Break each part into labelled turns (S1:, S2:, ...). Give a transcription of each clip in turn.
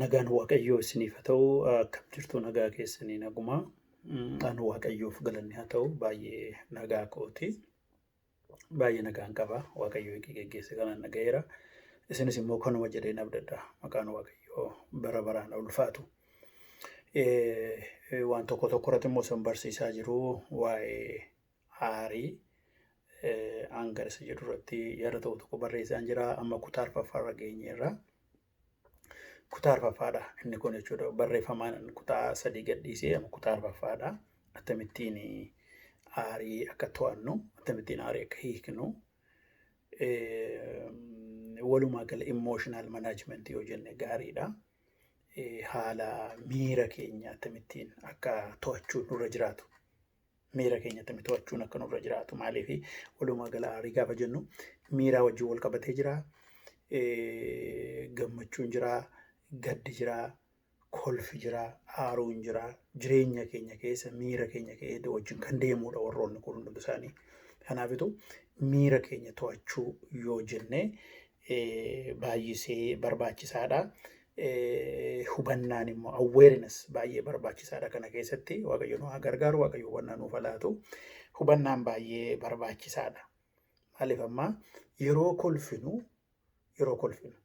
S1: Nagaan Waaqayyoo isiniif haa ta'u. Akkam jirtu nagaa keessanii naguma. Anu Waaqayyoof galanni haa ta'u baay'ee nagaa kooti. Baay'ee nagaan qaba. Waaqayyo eegee geggeesse kanaan nagayeera. Isinis immoo kanuma jedhee nabdadha. Maqaan Waaqayyoo bara baraan ulfaatu. Waan tokko tokko irratti immoo isin barsiisaa jiru waa'ee aarii hanga isa jedhu irratti yaada tokko tokko barreessaan jira. Amma kutaa arfaffaa irra geenyeerra. Kutaa arfaffaadha inni kun jechuudha. Barreeffamaan kutaa sadii gadhiisee amma kutaa arfaffaadha. Akkamittiin aarii akka to'annu, akkamittiin aarii akka hiiknu, walumaa gala emotional management yoo jenne gaariidha. Haala miira keenya akkamittiin akka to'achuu nurra jiraatu miira keenya akkamitti to'achuun akka nurra jiraatu maaliif walumaa gala aarii gaafa jennu miiraa wajjin wal qabatee jira. Gammachuun jira, gaddi jira, kolfi jira, aaruun jira. Jireenya keenya keessa miira keenya keessa wajjin kan deemudha warroonni kun hundi isaanii. Kanaafitu miira keenya to'achuu yoo jenne baay'isee barbaachisaadha. Hubannaan immoo awareness baay'ee barbaachisaadha kana keessatti waaqayyo nu haa gargaaru waaqayyo hubannaa nuuf laatu. Hubannaan baay'ee barbaachisaadha. Maaliif ammaa yeroo kolfinu yeroo kolfinu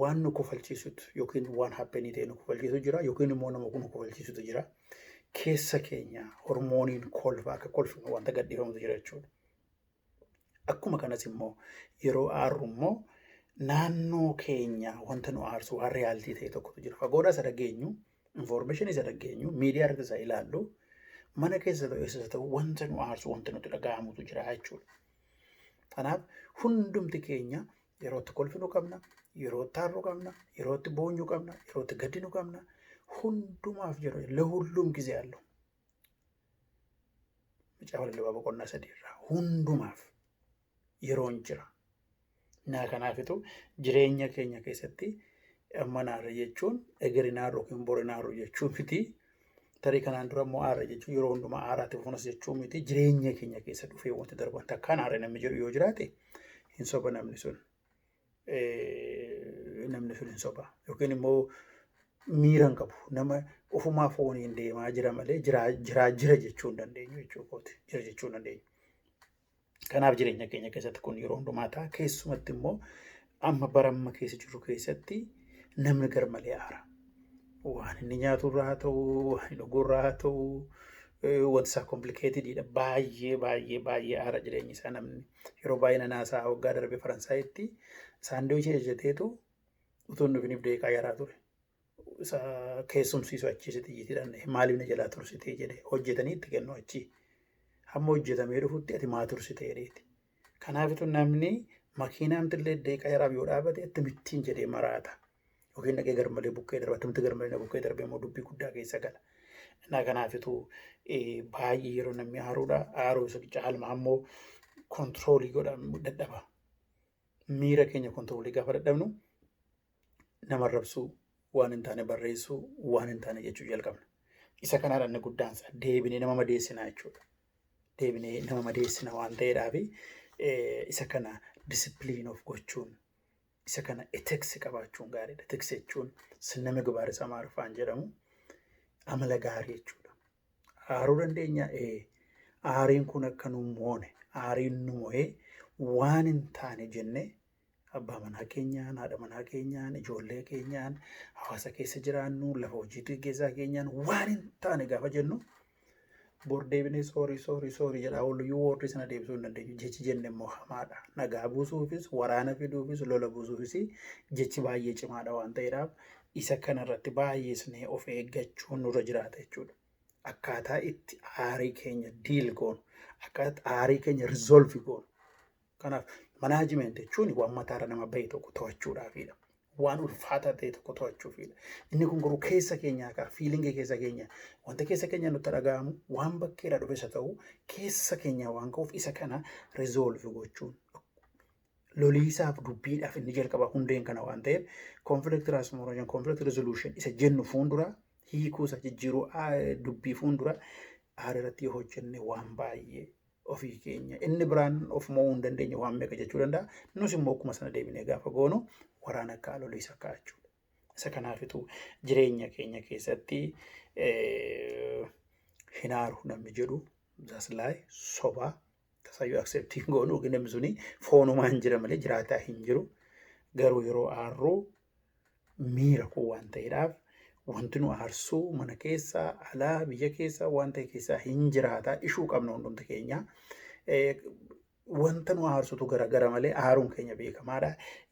S1: waan nu kofalchiisutu yookiin waan happenii ta'e nu kofalchiisu jira yookiin immoo nama nu kofalchiisutu jira. Keessa keenya hormooniin kolfa akka kolfinu wanta gadhiifamutu jira jechuudha. Akkuma kanas immoo yeroo aarru immoo naannoo keenya wanta nu aarsu waan riyaaltii ta'e tokkotu jira. Fagoodhaa isa dhageenyu, infoormeeshinii isa dhageenyu, miidiyaa irratti isa ilaallu, mana keessa ta'u eessas ta'u wanta nu aarsu wanta nutti dhaga'amutu jira jechuudha. Kanaaf hundumti keenya yeroo itti kolfinu qabna, yeroo itti aarru qabna, yeroo itti boonyu qabna, yeroo itti gaddinu qabna. Hundumaaf yeroo ለሁሉም ጊዜ አለው። Macaafa lallabaa boqonnaa sadii irraa hundumaaf yeroon jira. Naa kanaafitu jireenya keenya keessatti amma naarra jechuun egeri naarra yookiin bori naarra jechuu miti. Tarii kanaan dura immoo aara jechuun yeroo hundumaa aaraatti fufunas jechuu miti. Jireenya keenya keessa dhufee wanti darban takkaan aara namni jedhu yoo jiraate hin soba namni sun. eh, namni sun hin soba yookiin immoo miira hin qabu nama ofumaa fooniin deemaa jira malee jiraa jiraa jira jechuu hin dandeenyu jechuu kooti jira jechuu hin dandeenyu. Kanaaf jireenya keenya keessatti kun yeroo hundumaa ta'a keessumatti immoo amma bara amma keessa jirru keessatti namni gar malee aara. Waan inni nyaatu irraa haa ta'u, waan inni dhuguu irraa haa ta'u, eh, wanti isaa komplikeetididha. Baay'ee baay'ee baay'ee aara jireenyi isaa namni. Yeroo baay'ee nan haasa'a waggaa darbe Faransaayitti saandiwichii hojjeteetu utuu hin dhufiniif deeqaa yaraa ture. Isa keessumsiisu achii sitti jitiidhaan maaliif na jalaa tursitee jedhee hojjetanii itti kennu achii. Hamma hojjetamee dhufutti ati maa tursitee dheeti. Kanaafitu namni makiinaamti illee deeqa yaraaf yoo dhaabate itti mittiin jedhee maraata. Yookiin dhaqee garmalee bukkee darba. Akkamitti garmalee na bukkee darbee immoo dubbii guddaa keessa gala. Innaa kanaafitu baay'ee yeroo namni aaruudha. Aaruu isa caalmaa immoo kontiroolii godha dadhaba. Miira keenya kontiroolii gaafa dadhabnu nama arrabsuu waan hin taane barreessuu waan hin taane jechuu jalqabna. Isa kanaa dhanni guddaan isaa deebinee nama madeessina jechuudha. Deebinee nama madeessina waan ta'eedhaaf isa kana disipiliin of gochuun Isa kana ethics qabaachuun gaariidha. Ethics jechuun sinna migbaar isa Amaariffaan jedhamu amala gaarii jechuudha. Aaruu dandeenya ee aariin kun akka nu moone aariin nu mo'ee waan hin taane jennee abbaa manaa keenyaan, haadha manaa keenyaan, ijoollee keenyaan, hawaasa keessa jiraannu, lafa hojii geggeessaa keenyaan waan hin taane gaafa jennu bor deebinee soorii soorii soorii jedhaa ooluyyuu woordii sana deebisuu hin dandeenyu jechi jenne immoo hamaadha nagaa buusuufis waraana fiduufis lola buusuufis jechi baay'ee cimaadha waan ta'eedhaaf isa kana irratti baay'isnee of eeggachuun nurra jiraata jechuudha akkaataa itti aarii keenya diil goonu akkaataa aarii keenya rizoolvi goonu Kanaaf manaajimeenti jechuun waan mataarra nama bahe tokko to'achuudhaafidha. Waan ulfaataa ta'e tokko to'achuufidha. Inni kun garuu keessa keenyaa kaa fiilingii keessa keenya wanta keessa keenya nutti dhaga'amu waan bakkeedha dhufe isa ta'u keessa keenyaa waan ka'uuf isa kana rizoolvi gochuun loliisaaf dubbiidhaaf inni jalqaba hundeen kana waan ta'eef konfilikt tiraansfoormeeshin konfilikt rizooluushin isa jennu fuuldura hiikuu isa jijjiiruu dubbii fuuldura aara irratti yoo hojjenne waan baay'ee ofii keenya inni biraan of mo'uu hin dandeenye waan meeqa jechuu danda'a. Nus immoo akkuma sana deebinee gaafa goonu waraana akka alolii isa ka'a jechuudha. Isa kanaafitu jireenya keenya keessatti hin aaru namni jedhu zaslaay sobaa tasayyuu akseeptii hin goonu yookiin namni suni foonumaan jira malee jiraataa hin jiru. Garuu yeroo aarru miira koo waan ta'eedhaaf wanti nu aarsuu mana keessaa alaa biyya keessaa waan ta'e keessaa hin jiraata ishuu qabna hundumti keenya. Wanta nu aarsutu garagara malee aaruun keenya beekamaadha.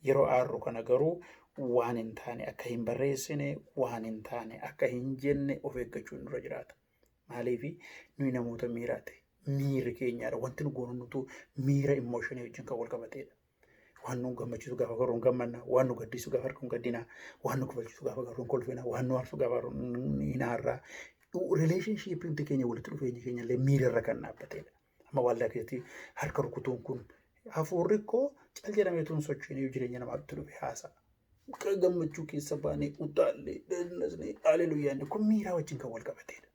S1: Yeroo aarru kana garuu waan hin taane akka hin barreessine waan hin taane akka hin jenne of eeggachuun nurra jiraata. Maaliif nuyi namoota miiraati. Miirri keenyaadha. Wanti nu goonutu miira immooshinii wajjin kan wal qabateedha. Waan nu gammachiisu gaafa garuu hin gammanna. Waan nu gaddisu gaafa argu hin gaddina. Waan nu kofalchiisu gaafa garuu hin kolfina. Waan nu aarsu gaafa argu hin aarra. Rileeshinshiippii hundi keenya walitti dhufeenyi keenya illee miira irra kan dhaabbatedha. Amma waaldaa keessatti harka rukutuun kun hafuurri koo cal jedhamee tun socho'inii jireenya namaatti dhufe haasa'a. Gammachuu keessa baanee utaallee, dadnasnee, haleluyyaan kun miiraa wajjin kan wal qabatedha.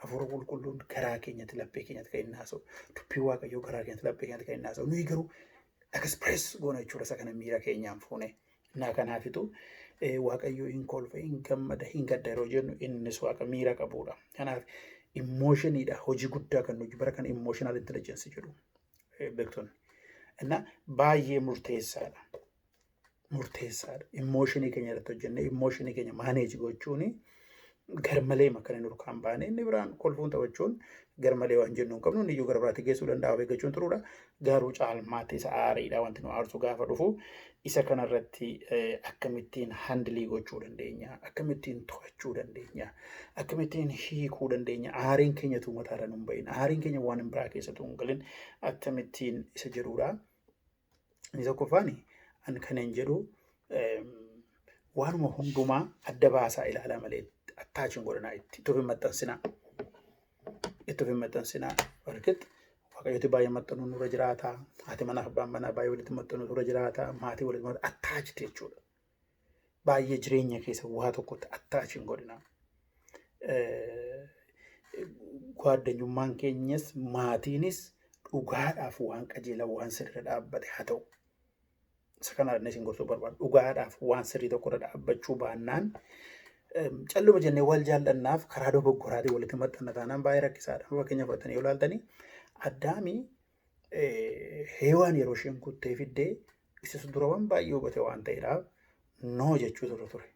S1: Hafuura qulqulluun garaa keenyatti laphee keenyatti kan inni haasa'u. Dubbii Waaqayyoo garaa keenyatti laphee keenyatti kan inni haasa'u. Nuyi garuu express goona jechuudha isa kana miira keenyaan fuune. Naa kanaafitu eh, Waaqayyo hin kolfa, hin gammada, hin gadda yeroo jennu innis waaqa miira qabudha. Kanaaf immooshinidha hojii guddaa kan nuyi bara kana immooshinal intelligensi jedhu eh, beektonni. Innaa baay'ee murteessaadha. murteessaadha. Immooshinii keenya irratti hojjennee immooshinii keenya maaneeji gochuun garmalee makkan hin urkaan baane inni biraan kolfuun taphachuun garmalee waan jennu hin qabnu inni iyyuu gara biraatti geessuu danda'a of eeggachuun turuudha. Garuu caalmaatti isa aariidha wanti nu aarsu gaafa dhufu isa kanarratti akkamittiin handilii gochuu dandeenya akkamittiin to'achuu dandeenya akkamittiin hiikuu dandeenya aariin keenya tuu mataarra nu hin bahin aariin keenya waan hin biraa keessatu hin galin akkamittiin isa jedhuudha. Inni tokkoffaan an kanan jedhu eem, waanuma hundumaa adda baasaa ilaalaa malee attaachi hin godhanaa itti itti of hin maxxansinaa. Itti of hin maxxansinaa. Walqix waaqayyooti baay'ee maxxanuu nurra jiraata. Haati manaa fi abbaan manaa baay'ee walitti maxxanuu nurra jiraata. Maatii walitti maxxanuu attaachi jechuudha. baay'ee jireenya keessa waa tokkotti attaachi hin godhina. Gaaddanyummaan keenyas maatiinis dhugaadhaaf waan qajeelaa waan sirrii irra dhaabbate haa ta'u. Isa kana inni isin gorsuu barbaadu dhugaadhaaf waan sirrii tokko irra dhaabbachuu baannaan calluma jennee wal jaallannaaf karaa dogoggoraatiin walitti maxxanna taanaan baay'ee rakkisaadha. Fakkeenyaaf fudhatanii yoo ilaaltanii addaamii Heewaan yeroo isheen kuttee fiddee isas dura waan baay'ee hubate waan ta'eedhaaf noo jechuu ture ture.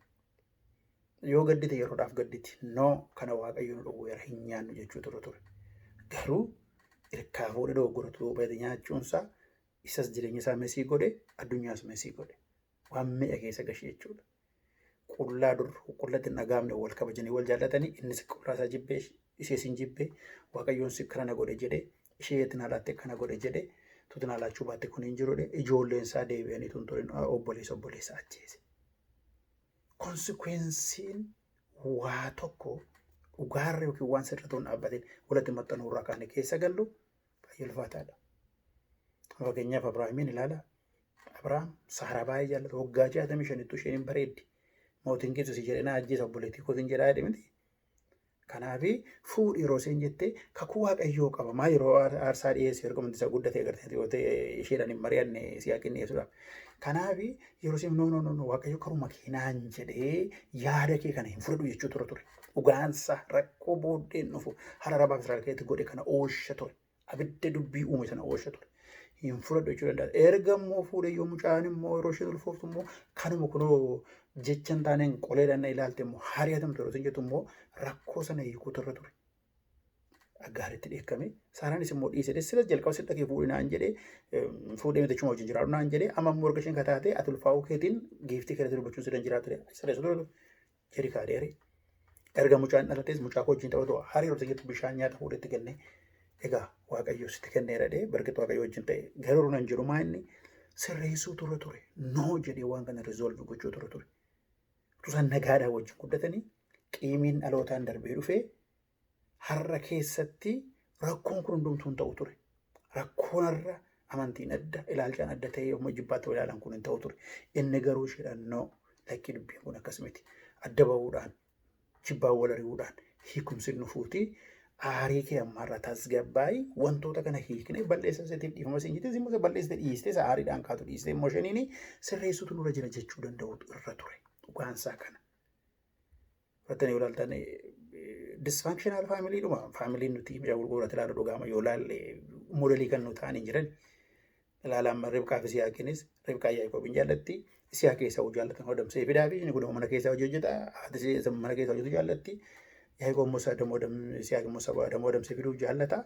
S1: Yoo gaddite yeroodhaaf gadditi noo kana waaqayyo nu dhowweera hin nyaannu jechuu ture ture. Garuu irkaa fuudhee dogoggora ture hubate nyaachuunsaa isas jireenya isaa mesii godhe addunyaas mesii godhe. waan meeqa keessa gashi jechuudha. Qullaa dur qullatti hin dhagaamne wal kabajanii wal jaallatanii innis qullaa isaa jibbee ishee sin jibbee waaqayyoon si kana na godhe jedhee ishee itti naalaatte kana godhe jedhee tuti naalaachuu baatte kun hin jirudha ijoolleen isaa deebi'anii tun turin obboleessa obboleessa ajjeese. Konsikweensiin waa tokko dhugaarra yookiin waan sirriitti hin dhaabbatin walitti maxxanuu irraa kaane keessa gallu baay'ee ulfaataadha. Fakkeenyaaf Abiraahimiin ilaala. Abrahaam Saaraa baay'ee jaallata. Waggaa 65 ittuu isheen hin bareeddi. Mootiin Gibsi si jedhee na ajjeesa obboleettii kootiin jedhaa jedhe miti. Kanaaf fuudhi yeroo isheen jettee kakuu waaqayyoo qabamaa yeroo aar- aarsaa dhiyeessu erga wanti isa guddatee agartee yoo ta'e isheedhaan hin mari'anne siyaaqin dhiyeessuudhaaf. Kanaaf yeroo isheen noo noo noo noo waaqayyo karuma kee naan jedhee yaada kee kana hin fudhadhu jechuu ture ture. Dhugaansaa rakkoo booddeen dhufu hararabaaf Israa'el keessatti godhe kana oosha ture. abidda dubbii uume sana oolcha ture. Hin fudhadhu jechuu danda'a. Erga immoo fuudhe yoo mucaan immoo yeroo isheen ulfooftu immoo kanuma kunoo jecha hin taaneen qoleedhaan na ilaalte immoo hari'atamtu yeroo isin jettu immoo rakkoo sana hiikuutu irra ture. Aggaaritti dheekkame. Saaraanis immoo dhiise. Silas jalqaba sitti dhagee fuudhe naan jedhee fuudhee miti achuma wajjin jiraadhu naan jedhee amma immoo erga isheen kataatee ati ulfaa'uu keetiin giiftii keeratti dubbachuun sidan jiraatu. Sirreessu ture. Erikaa Adeeri. Erga mucaan dhalatees mucaa koo wajjin taphatu hariiroo ta'etu bishaan nyaata fuudhee itti kennee egaa waaqayyo sitti kenneera dhee bargatu waaqayyo wajjin ta'e garuu nan jiru maa inni sirreessuu ture ture noo jedhee waan kana rizoolvi gochuu ture ture. Tusan nagaadhaa wajjin guddatanii qiimiin dhalootaan darbee dhufee har'a keessatti rakkoon kun hundumtuu hin ta'u ture. Rakkoon har'a amantiin adda, ilaalchaan adda ta'ee yommuu ijibbaatti wal ilaalan kun hin ta'u ture. Inni garuu isheedhaan noo lakkii dubbiin kun akkas miti. Adda ba'uudhaan, jibbaan wal ari'uudhaan hiikumsi hin dhufuuti. Aarii kee ammaarraa tasgabbaa'i. Wantoota kana hiiknee balleessa isheetiin dhiifama siin jettee immoo isa balleessite dhiistee isa aariidhaan kaatu dhiistee immoo isheen sirreessuutu nurra jira jechuu danda'utu irra ture. Dhugaan isaa kana. Fattanii yoo ilaaltan disfankshinaal faamilii dhuma faamiliin nuti ija gurguurratti ilaalu dhugaama yoo ilaalle modelii kan nu ta'an hin jiran. Ilaalaan Ribqaa fi Siyaaqiinis Ribqaa Yaaqoob hin jaallatti. Siyaa keessaa hojii jaallatan hodamsee fidaa fi inni kun mana keessaa hojii hojjeta. Haati isaa mana keessaa hojjetu jaallatti. Yaaqoob Musaa damoo Siyaaq Musaa damoo hodamsee fiduu jaallata.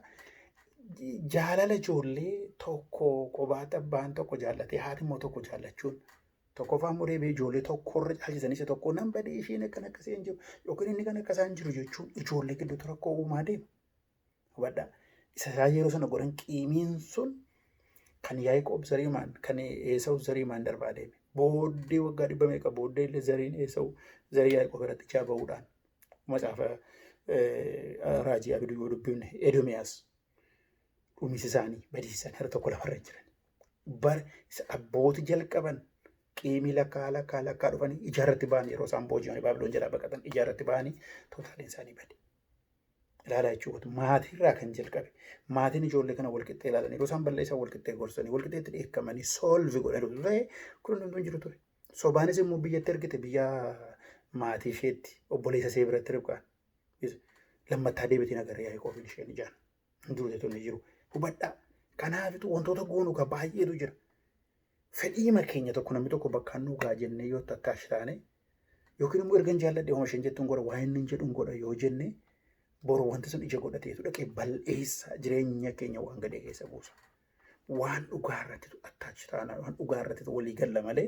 S1: Jaalala ijoollee tokko kophaatti abbaan tokko jaallatee haati immoo tokko jaallachuun Tokkoffaa immoo deebi'ee ijoollee tokko irra caalchisan isa tokko nan badee isheen akkan akkasii hin jiru yookiin inni kan akkasaan jiru jechuun ijoollee gidduutti rakkoo uumaa deema. Hubadhaa isa isaa yeroo sana godhan qiimiin sun kan Yaaqoob Zariimaan kan Eesawu Zariimaan darbaa deeme. Booddee waggaa dhibba meeqa booddee illee zariin Eesawu zarii Yaaqoob irratti ijaa ba'uudhaan macaafa raajii abiduu yoo dubbifne Edomiyaas dhumisi isaanii badiisan harka tokko lafarra hin jiran. bar isa abbooti jalqaban qiimii lakkaa lakkaa lakkaa dhufanii ija irratti ba'anii yeroo isaan booji'anii baabiloon jalaa baqatan ija irratti ba'anii tootaaliin isaanii bade. Ilaalaa jechuudha maatii irraa kan jalqabe maatiin ijoollee kana walqixxee ilaalan yeroo isaan balleessan walqixxee gorsanii walqixxeetti dheekkamanii soolvi godhan osoo ta'e kun hundumtuu hin jiru ture. Sobaanis immoo biyyatti ergite biyya maatii isheetti obboleessa ishee biratti ribqaan lammattaa deebitiin agarra yaa'ii qoofiin isheen ijaan. hin duune tun hin jiru. Hubadhaa. Kanaafitu wantoota goonu ka baay'eetu jira. Fedhiima keenya tokko namni tokko bakkaan nu gaa jennee yoo takkaash taane yookiin immoo ergan jaalladhe homa isheen jettuun godha waa inni hin jedhuun godha yoo jenne boru wanti sun ija godhateetu dhaqee bal'eessa jireenya keenya waan gadee keessa buusa. waan dhugaa irratti attaachi ta'an waan dhugaa irratti walii galla malee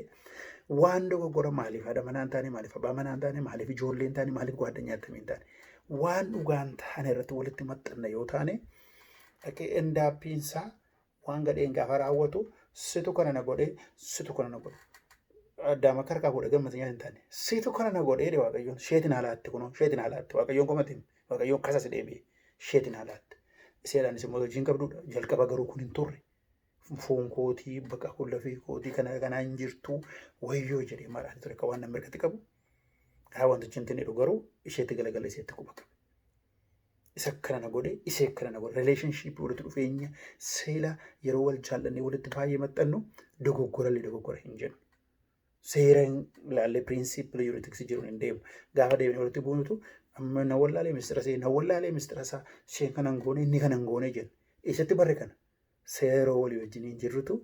S1: waan dogoggora maaliif haadha manaa hin taane maaliif abbaa manaa hin taane maaliif ijoollee hin taane maaliif gwaaddanyaa akkamii hin taane waan dhugaa hin taane irratti walitti maxxanna yoo taane dhaqee endaappiin isaa waan gadheen gaafa raawwatu situ kana na godhee situ kana na godhe addaama karkaa godhe gammatinyaa hin taane situ kana na godhee waaqayyoon sheetin haalaatti kunoo sheetin haalaatti waaqayyoon qomatiin. Waaqayyoon kasa si deebi'e isheetiin haa laatte. Iseedhaanis immoo hojiin qabdudha. Jalqaba garuu kun hin turre. Foon kootii baqa kun lafee kootii kana kanaa hin jirtu wayyoo jedhee maraati ture akka waan namni irratti qabu. Haa wantichi hin tinedhu garuu isheetti galagala isheetti quba qabe. Isa kana na godhe isee kana na godhe relationship walitti dhufeenya seela yeroo wal jaallannee walitti baay'ee maxxannu dogoggorallee dogoggora hin jennu. seera hin ilaalle piriinsiipilii yuuritiksii jiruun hin deemu. Gaafa deemnee walitti buunutu amma na wallaalee mistira see na wallaalee mistira isaa isheen kana hin goone inni kana hin goone jenna. Eessatti barre kana? Seera walii wajjiniin jirrutu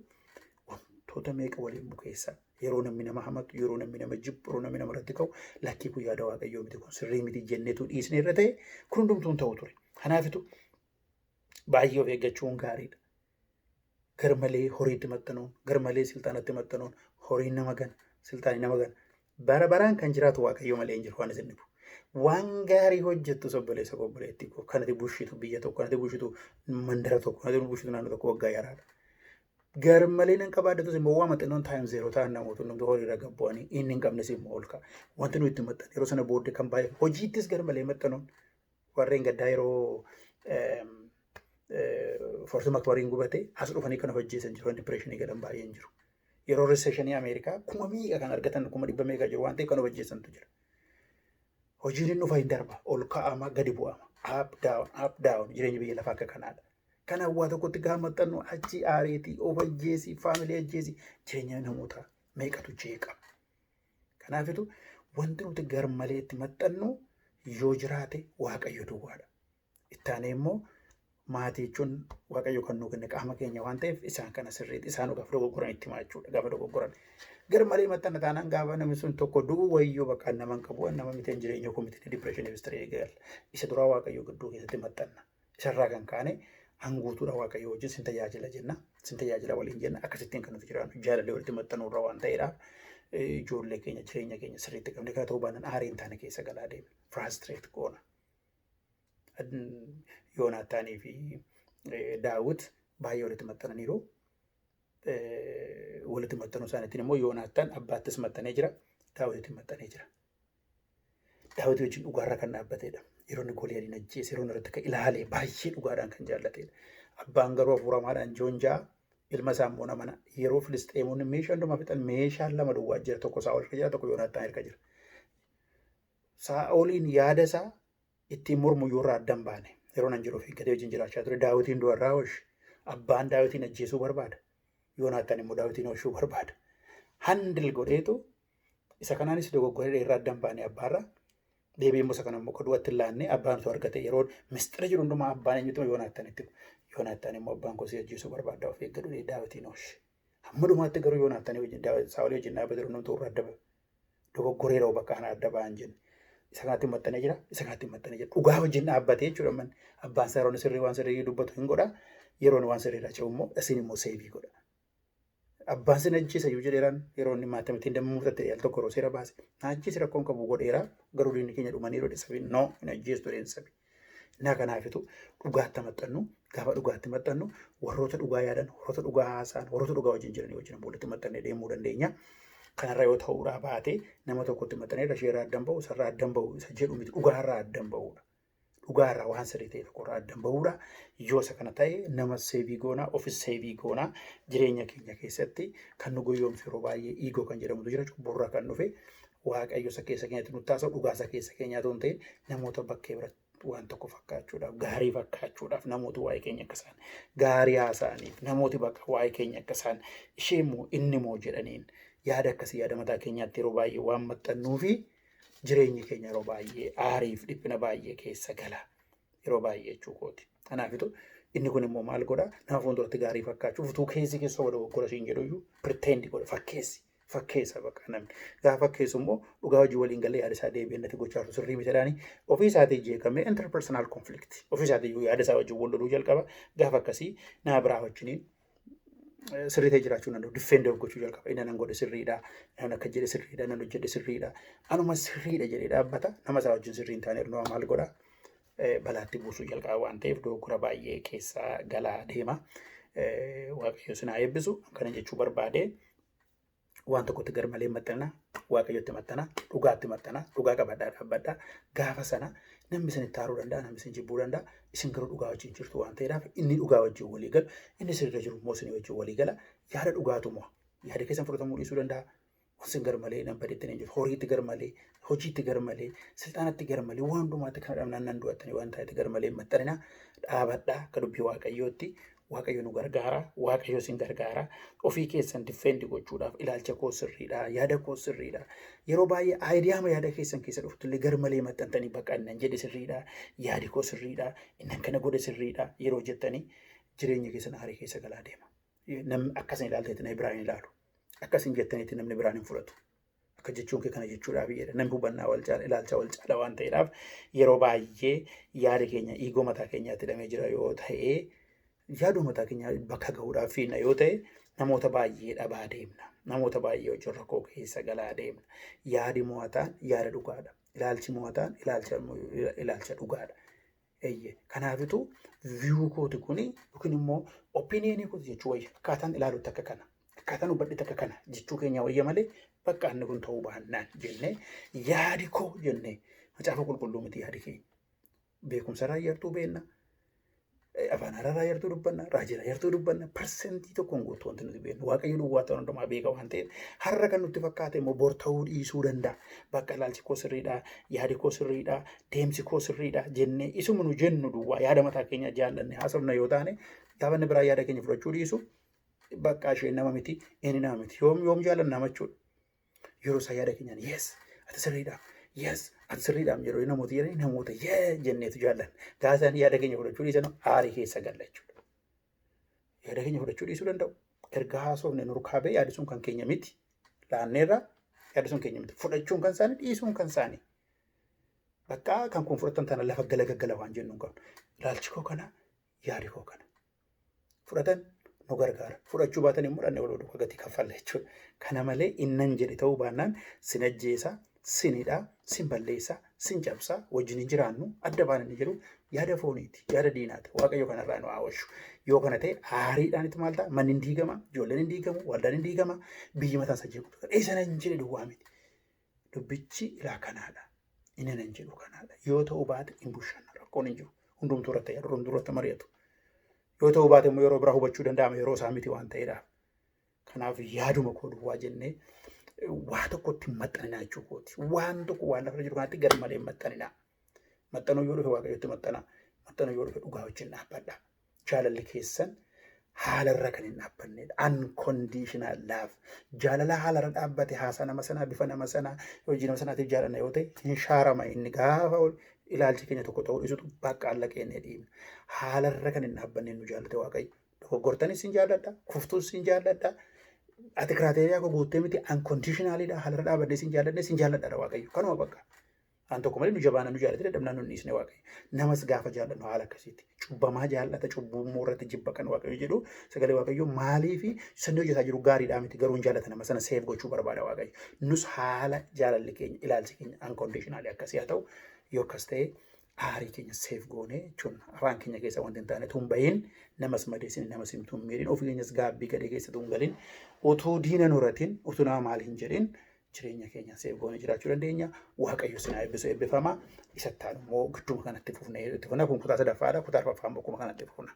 S1: wantoota meeqa waliin bukeessa. Yeroo namni nama hamatu, yeroo namni nama jibbu, yeroo namni nama irratti ka'u lakkii kun yaada waaqayyoo miti kun sirrii miti jennetu dhiisne irra ta'e kun hundumtuu hin ta'u ture. Kanaafitu baay'ee of eeggachuun gaariidha. garmalee horiitti maxxanuun, garmalee silxaanatti maxxanuun, horiin nama gana, silxaani nama gana. Bara baraan kan jiraatu Waaqayyo malee hin jiru waan isin dhibu. Waan gaarii hojjettus obboleessa koo obboleettii koo kan ati bushitu biyya tokko, kan ati bushitu mandara tokko, kan ati bushitu naannoo tokko waggaa yaraadha. Garmalee nan qabaaddatus immoo waama xinnoon taayim zeeroo ta'an namoota hundumtuu horiirra gad bu'anii inni hin qabnes immoo ol ka'a. Wanti nuyi itti maxxanne yeroo sana booddee kan baay'atu hojiittis garmalee maxxanuun warreen gaddaa yeroo forsi makbariin gubate as dhufanii kan of ajjeesan jiru dipireeshinii galan baay'een jiru. Yeroo riseeshinii Ameerikaa kuma miidha kan argatan kuma dhibba meeqa jiru waan ta'eef kan of ajjeesantu jira. Hojiin inni dhufa hin darba ol ka'ama gadi bu'ama up down up down jireenyi biyya lafaa akka kanaadha. Kan hawwaa tokkotti gaafa maxxannu achi aareetii of ajjeesii faamilee ajjeesii jireenya namootaa meeqatu jeeqa. Kanaafitu wanti nuti garmalee itti maxxannu yoo jiraate Waaqayyo duwwaadha. Itti aanee immoo maatii jechuun Waaqayyo kan nuu kenne qaama keenya waan ta'eef isaan kana sirriitti isaan gaafa dogoggoran itti himaa jechuudha. Gaafa dogoggoran garmalee maxxanna taanaan gaafa namni sun tokko du'u wayyoo bakka nama hin qabu nama miti hin jireenya koo miti dipireeshinii bistirii eegal. Isa duraa Waaqayyo gidduu keessatti maxxanna. Isarraa kan kaane an guutuudha Waaqayyo wajjin sin tajaajila jenna. Sin tajaajila waliin jenna. Akkasittiin kan nuti jiraannu jaalallee walitti maxxanuu irra waan ta'eedha. Ijoollee keenya jireenya keenya sirriitti qabne kana ta'uu baannaan aarii hin taane keessa galaa deemna. Firaastireet goona. Yoonaataanii fi Daawit baay'ee walitti maxxananiiru. Walitti maxxanuu isaaniitiin immoo Yoonaataan abbaattis maxxanee jira. Daawititti maxxanee jira. Daawwitii wajjin dhugaarraa kan dhaabbatedha. Yeroo inni Goliyaadiin ajjeese, yeroo inni irratti ka'e ilaalee baay'ee dhugaadhaan kan jaallatedha. Abbaan garuu hafuuramaadhaan Joon ja'a ilma isaa immoo namana. Yeroo Filisxeemonni meeshaa hundumaa fixan meeshaan lama duwwaa jira. Tokko Saa'ol irka jira, tokko Yoonaattaan irka jira. Saa'oliin yaada isaa ittiin mormu yoo irraa addan baane yeroo nan jedhu eeggatee wajjin jiraachaa ture. Daawitiin du'a irraa hoshi. Abbaan daawitiin ajjeesuu barbaada. Yoonaattaan immoo daawitiin hoshuu barbaada. Handil godheetu Isa kanaanis dogoggora dheerraa addan baanee abbaarra deebi'ee immoo isa kana immoo qoduu atti laannee abbaan osoo argate yeroo mistira jiru hundumaa abbaan eenyutu yoonaattan itti yoonaattan immoo abbaan koo si ajjeesuu barbaaddaa of eeggadhu jedhee daawitiin hoosh. Hamma dhumaatti garuu yoonaattan wajjin daawit saawolii wajjin dhaabate jiru hundumtuu irra adda ba'e. Dogoggora yeroo bakka kana adda ba'an jenna. Isa kanatti maxxanee jira isa kanatti maxxanee jira dhugaa wajjin dhaabbatee jechuudha man abbaan isaa yeroo sirrii waan sirrii dubbatu hin godha yeroo waan sirrii irraa ce'u immoo isin immoo seebii godha. Abbaan sin ajjeesa iyyuu jedheeraan yeroo inni maatii ittiin damma murtatte al tokko yeroo seera baase na ajjeesi rakkoon qabu godheera garuu diinni keenya dhumanii yeroo sabi no hin ajjeestu jedheen sabi. Naa kanaafitu dhugaatti maxxannu gaafa dhugaatti maxxannu warroota dhugaa yaadan warroota dhugaa haasa'an warroota dhugaa wajjin jiranii wajjin boolitti maxxannee deemuu dandeenya. Kanarra yoo ta'uudhaa baate nama tokkotti maxxanee irra ishee irraa addan ba'u isarraa addan ba'u isa jedhu miti dhugaa irraa addan ba'uudha. dhugaa irraa waan sirrii ta'e tokko irraa addan ba'uudha. Yoo isa kana ta'e nama seevii goonaa, ofis seevii goonaa jireenya keenya keessatti kan nu goyoomsu yeroo baay'ee iigoo kan jedhamutu jira cubburraa kan dhufe waaqayyo isa keessa keenyatti nu taasisa dhugaa isa keessa keenyaa ta'uun ta'e namoota bakkee biratti waan tokko fakkaachuudhaaf gaarii fakkaachuudhaaf namooti waa'ee keenya akka isaan gaarii haasa'aniif namooti bakka waa'ee keenya akka isaan ishee immoo inni immoo jedhaniin yaada akkasii yaada mataa keenyaatti yeroo baay'ee waan maxxannuu fi Jireenyi keenya yeroo baay'ee aariif dhiphina baay'ee keessa gala. Yeroo baay'ee jechuu kooti. Kanaafitu inni kun immoo maal godha? Nama fuulduratti gaarii fakkaachuuf utuu keessi keessa wada goggora siin jedhu iyyuu pirteendi godha fakkeessi. Fakkeessa bakka namni. Gaafa fakkeessu immoo dhugaa hojii waliin galee yaada isaa deebi'ee natti gochaa jiru sirrii miti jedhaani ofii isaatii jeeqamee interpersonal conflict ofii isaatii iyyuu yaada isaa wajjin wal loluu jalqaba. Gaafa akkasii nama biraa wajjiniin sirrii ta'e jiraachuu danda'u. Diffeendii of gochuu jalqaba. Inni nan godhe sirriidha. Nan akka jedhe sirriidha. Nan hojjedhe sirriidha. Anuma sirriidha jedhee dhaabbata. Nama isaa wajjin sirrii hin taane nama maal godha? Balaatti buusuu jalqaba waan ta'eef dogoggora baay'ee keessa galaa deema. Waaqayyo sinaa eebbisu kana jechuu barbaade. waan tokkotti garmalee hin maxxanina waaqayyotti maxxana dhugaatti maxxana dhugaa qabadhaa dhaabbadhaa gaafa sana namni isin itti aaruu danda'a namni isin jibbuu danda'a isin garuu dhugaa wajjin jirtu waan ta'eedhaaf inni dhugaa wajjin walii galu inni isin irra jiru immoo isin wajjin walii gala yaada dhugaatu mo'a yaada keessan fudhatamuu dhiisuu danda'a waan isin garmalee nan badeetti nan jiru horiitti garmalee hojiitti garmalee silxaanatti garmalee waan hundumaatti kana dhabnaan nan du'attanii waan ta'etti garmalee hin maxxanina dhaabadhaa akka dubbii waaqayyootti Waaqayyo nu gargaara, Waaqayyo isin gargaara. Ofii keessan defend gochuudhaaf ilaalcha koo sirriidha, yaada koo sirriidha. Yeroo baay'ee aayidiyaama yaada keessan keessa dhuftu illee gar malee maxxantanii bakka innan jedhe sirriidha, yaadi koo sirriidha, innan kana godhe sirriidha yeroo jettanii jireenya keessan aarii keessa galaa deema. Namni akkasin ilaalteetti na biraan hin ilaalu. Akkasin jettanitti namni biraan hin fudhatu. Akka jechuun kee kana jechuudhaa biyyeedha. Namni hubannaa wal caala, ilaalcha wal caala waan ta'eedhaaf yeroo baay'ee yaada keenya dhiigoo mataa keenyaatti hidhamee jira yoo ta'e yaaduu mataa keenyaa bakka gahuudhaaf fiinna yoo ta'e namoota baay'ee dhabaa deemna. Namoota baay'ee wajjin rakkoo keessa galaa deemna. Yaadi mo'ataan yaada dhugaadha. Ilaalchi mo'ataan ilaalcha ilaalcha dhugaadha. Eeyyee. Kanaafitu viyuu kooti kuni yookiin immoo opiniyenii kooti jechuu wayya. Akkaataan ilaalutti akka kana. Akkaataan hubadhetti akka kana jechuu keenya wayya malee bakka inni kun ta'uu baannaan jennee yaadi koo jennee macaafa qulqulluu miti yaadi keenya. Beekumsa irraa yartuu beenna. Afaan haaraa yartuu dubbanna. Raajira yartuu dubbanna. Parsentii tokkoon guutuu wanti nuti beennu. Waaqayyo duwwaa ta'uu hundumaa beeka waan ta'eef har'a kan nutti fakkaate immoo bor ta'uu dhiisuu danda'a. Bakka ilaalchi koo sirriidha. Yaadi koo sirriidha. deemsi koo sirriidha jennee isuma nu jennu duwwaa yaada mataa keenya jaallanne haasofna yoo taane gaafa inni biraa yaada keenya fudhachuu dhiisu bakka isheen nama miti inni nama miti yoom yoom jaallanna nama jechuudha. Yeroo isaa yaada keenyaan yes ati sirriidha yes ati sirriidha jedhu namoota jedhanii namoota yee jenneetu jaallanna. Gaafa isaan yaada keenya fudhachuu dhiisan aarii keessa galla jechuudha. Yaada keenya fudhachuu dhiisuu danda'u. Erga haasofne nurkaa ba'e yaadi sun kan keenya miti. Laanneerra yaadi sun keenya miti. Fudhachuun kan isaanii dhiisuun kan isaanii. Bakka kan kun fudhatan tana lafa gala gaggala waan jennu hin qabnu. Ilaalchi koo kana yaadi koo kana. Fudhatan nu gargaara. Fudhachuu baatan immoo dhanne wal duuka gatii kaffalla jechuudha. Kana malee innan jedhe ta'uu baannaan sin ajjeesa, sin hidhaa, sin balleessa, sin cabsa, wajjin hin jiraannu, adda baana inni jedhu yaada fooniiti, yaada diinaati. Waaqayyo kanarraa nu haa oolchu. Yoo kana ta'e aariidhaanitti maal ta'a? Manni hin diigama, ijoolleen hin diigamu, waldaan hin diigama, biyyi mataan isaa jeequu. Eessa hin jedhe duwwaa miti. Dubbichi ilaa kanaadha. Inni nan jedhu kanaadha. Yoo ta'uu baate hin bushanna. Rakkoon hin jiru. Hundumtuu irratti yaadu, hundumtuu irratti mari'atu. Yoo ta'uu baate immoo yeroo biraa hubachuu danda'ama yeroo isaa miti waan ta'eedhaaf. Kanaaf yaaduma koo duwwaa jennee waa tokkotti hin maxxaninaa jechuu kooti. Waan tokko waan lafarra jiru kanatti garmalee hin maxxaninaa. Maxxanoo yoo dhufe waaqayyotti maxxanaa. Maxxanoo yoo dhufe dhugaa wajjin dhaabbadha. Jaalalli keessan haalarra kan hin dhaabbanneedha. Unconditional love. Jaalala haalarra dhaabbate haasaa nama sanaa bifa nama sanaa hojii nama sanaatiif jaalanna yoo ta'e hin shaarama inni gaafa ol ilaalchi keenya tokko ta'uu dhisutu bakka alla keenya dhiibna. Haalarra kan hin dhaabbanneen nu jaallate waaqayyo. Dogoggortanis sin jaalladha, kuftuus sin jaalladha. Ati kiraateeriyaa koo guuttee miti unconditionalidha haalarra dhaabannee sin jaalladhe sin jaalladha waaqayyo. Kanuma bakka. An tokko malee nu jabaa namni jaallatee dadhabnaan nun dhiisne waaqayyo. Namas gaafa jaallannu haala akkasiiti. Cubbamaa jaallata cubbuu immoo irratti jibba kan waaqayyo jedhu sagalee waaqayyo maalii fi sirni hojjetaa jiru gaariidhaa miti garuu hin jaallata nama sana seef gochuu barbaada waaqayyo. Nus haala jaalalli keenya ilaalchi keenya unconditionally akkasii haa ta'u yoo akkas ta'e aarii keenya seef goonee jechuun afaan keenya keessa wanti hin taane tun bahin namas madeessin namas hin tun miidhin ofii keenyas gaabbii gadhee keessa tun galin utuu diina nuratin utuu nama maal hin jedhin jireenya keenya seef goone jiraachuu dandeenya. Waaqayyo sinaa eebbisu eebbifama. Isatti aanu immoo gidduma kanatti fufnee itti fufna. Kun kutaa sadaffaadha. Kutaa arfaffaa immoo akkuma kanatti fufna.